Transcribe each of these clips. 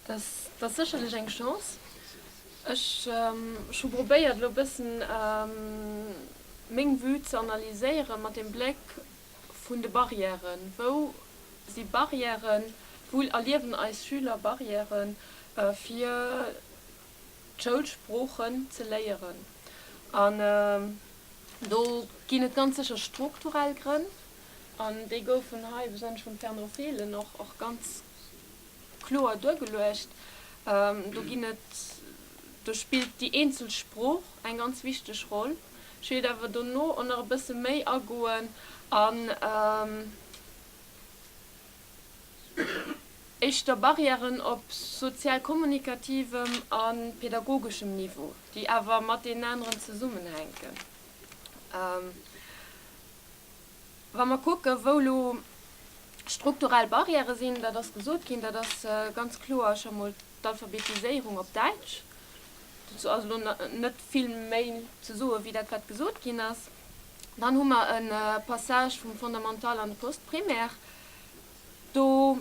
Dass ass sécherlech eng Chance. Ech hu probéiert elo e bëssen meng Vue ze analyséiere mat dem Bléck vun de Barrièren. Wou si Barrièren, wou erliewen eis Schüler Barrièren, fir d'Schoulsproochen ze léieren. An do ginn et ganz sécher strukturell Grënn, an déi goufen hei, besonnesch vum Fernand Fehlen, och ganz kloer duergeluecht. Do ginn et, do spillt déi eenzel Sprooch eng ganz wichteg Roll. Ech wéilt awer dono och nach e bësse méi agoen an éischter Barrièren op sozial-kommunikativem a pedagogeschem Niveau, déi awer matenaneren zesummenhänken. Wa mer kucken, wou elo strukturell Barrièrë sinn, dat ass gesot ginn, dat ass ganz kloer scho mol d'Alphabetiséierung op Däitsch. Dozou ass elo net vill méi ze soen, wéi dat, wat gesot ginn ass. Dann hu mer e Passage vum Fondamental an de Post-Primaire. Do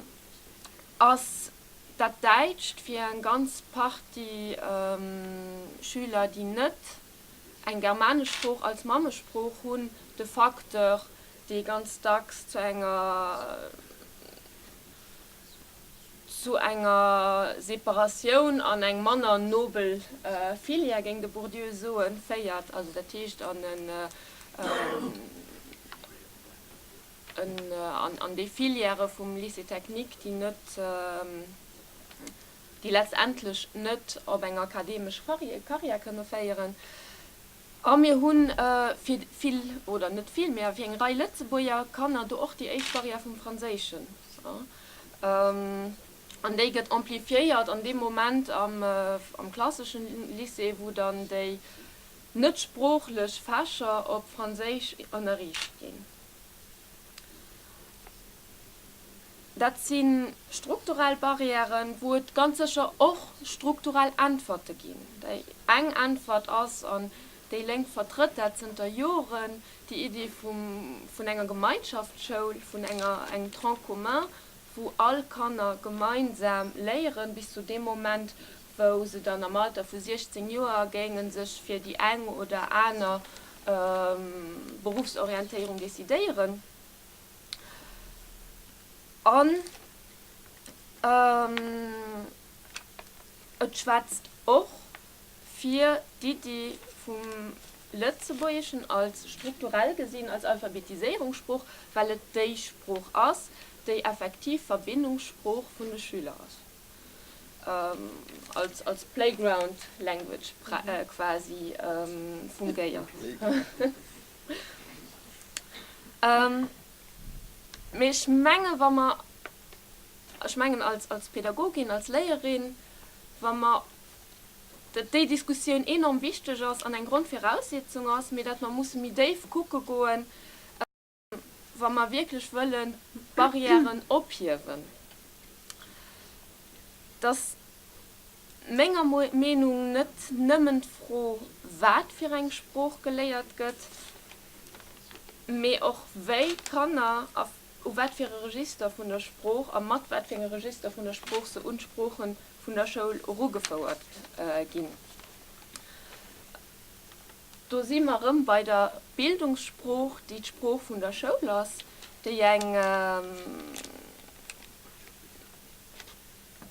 ass dat Däitscht fir eng ganz Partie Schüler, déi net eng germanesch Sprooch als Mammesprooch hunn, de Facteur, dee ganz dacks zu enger zu enger Separatioun an eng manner nobel Filière, géing de Bourdieu soen, féiert, also dat heescht an en en an déi Filièrë vum Lycée technique, déi net. déi letztendlech net op eng akademesch Carrière kënne féieren, a mir hu fir vill, oder net vill, mä fir eng Rei Lëtzebuerger Kanner do och déi éischt Barrière vum Franséischen, an déi gëtt amplifiéiert an deem Moment am klasseschen Lycée, wou dann déi net sproochlech Fächer op Franséisch ënnerriicht ginn. Dat si strukturell Barrièren, wou et ganz sécher och strukturell Äntwerte ginn. Déi eng Äntwert ass, an déi Lénk vertrëtt dat zënter Joren, déi Idee vun enger Gemeinschaftsschoul, vun engem Tronc commun, wou all Kanner gemeinsam léieren, bis zu deem Moment, wou se dann am Alter vu 16 Joer géinge sech fir déi eng oder aner Beruffsorientéierung decidéieren. An et schwätzt och fir d'Iddi vum Lëtzebuergeschen als strukturell gesinn als Alphabetiséierungssprooch, well et déi Sprooch ass, déi effektiv Verbindungssprooch vun de Schüler ass, als playground language quasi fungiert. Mee ech menge wa mer, ech mengen als als Pädagogin, als Léierin, wa mer, datt déi Diskussioun enorm wichteg ass an eng Grondviraussetzung ass, mee datt mer musse méi déif kucke goen, wa mer wierklech wëlle Barrièren ophiewen, datt. menger Meenung net nëmmen d'Fro, wat fir eng Sprooch geléiert gëtt, mee och wéi d'Kanner a u wat fir e Register vun der Sprooch a mat wat fir enge Register vun der Sprooch se un d'Sprooche vun der Schoul erugefouert ginn. Do si mer erëm bei der Bildungssprooch, déi d'Sprooch vun der Schoul ass, déi eng.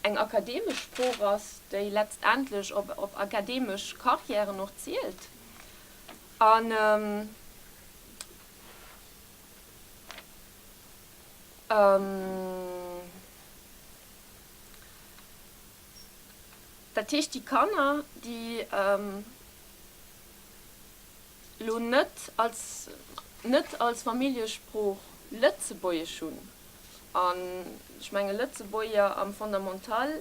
eng akademesch Sprooch ass, déi letztendlech op akademesch Carrièren och zielt. An dat heescht, déi Kanner, déi. elo net als net als Familljesprooch Lëtzebuergesch hunn, an ech menge Lëtzebuerger am Fondamental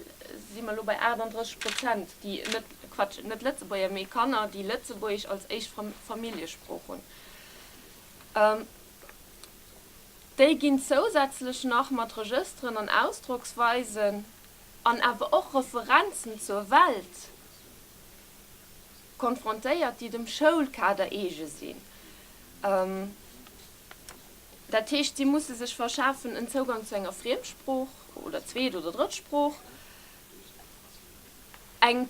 si mer elo bei 38 Prozent, déi net, Quatsch, net Lëtzebuerger, mee Kanner, déi Lëtzebuergesch als éischt Familljesprooch hunn, déi ginn zousätzlech nach mat Regësteren an Ausdrocksweisen an awer och Referenzen zur Welt konfrontéiert, déi dem Schoulkader eege sinn. Dat heescht, si musse sech verschafen en Zougang zu enger Friemsprooch oder Zweet oder Drëttsprooch, en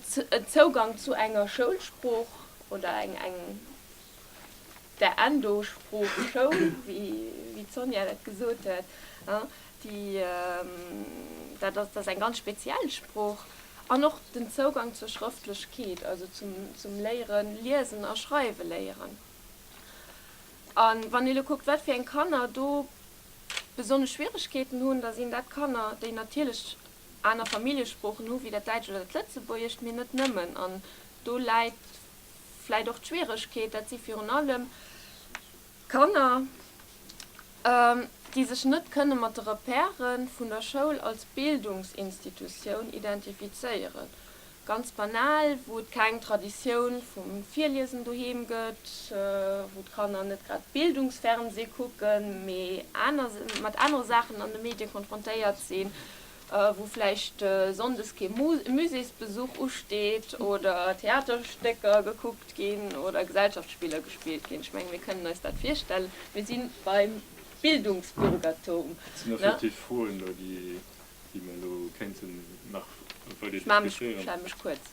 Zougang zu enger Schoulsprooch oder eng der Endosprooch schoul, wéi d'Sonja dat gesot huet, déi, dat ass, dat ass eng ganz speziell Sprooch, an och den Zougang zur Schrëftlechkeet, also zum Léieren, Liesen a Schreiwe léieren. A wann ee elo kuckt, wat fir eng Kanner do besonnesch Schwieregkeeten hunn, da sinn dat Kanner, déi natierlech aner Familljesproochen hu wéi dat Däitscht oder dat Lëtzebuergescht, mee net nëmmen. An do läit vläit och d'Schwieregkeet, dat si virun allem Kanner, déi sech net kënne mat de Repèrë vun der Schoul als Bildungsinstitutioun identifizéieren, ganz banal, wou et keng Traditioun vum Virliesen doheem gëtt, wou d'Kanner net grad Bildungsfernseh kucken, mee mat anere Saachen an de Medie konfrontéiert sinn. wou vläicht sonndes kee Muséesbesuch usteet oder Theaterstécker gekuckt ginn oder Gesellschaftsspiller gespillt ginn. Ech menge mir kënnen eis dat virstellen. Mir si beim Bildungsbürgertum. Dat sinn effektiv Froen elo, déi mir elo kéinten nach weider diskutéieren. Ech maache mech kuerz.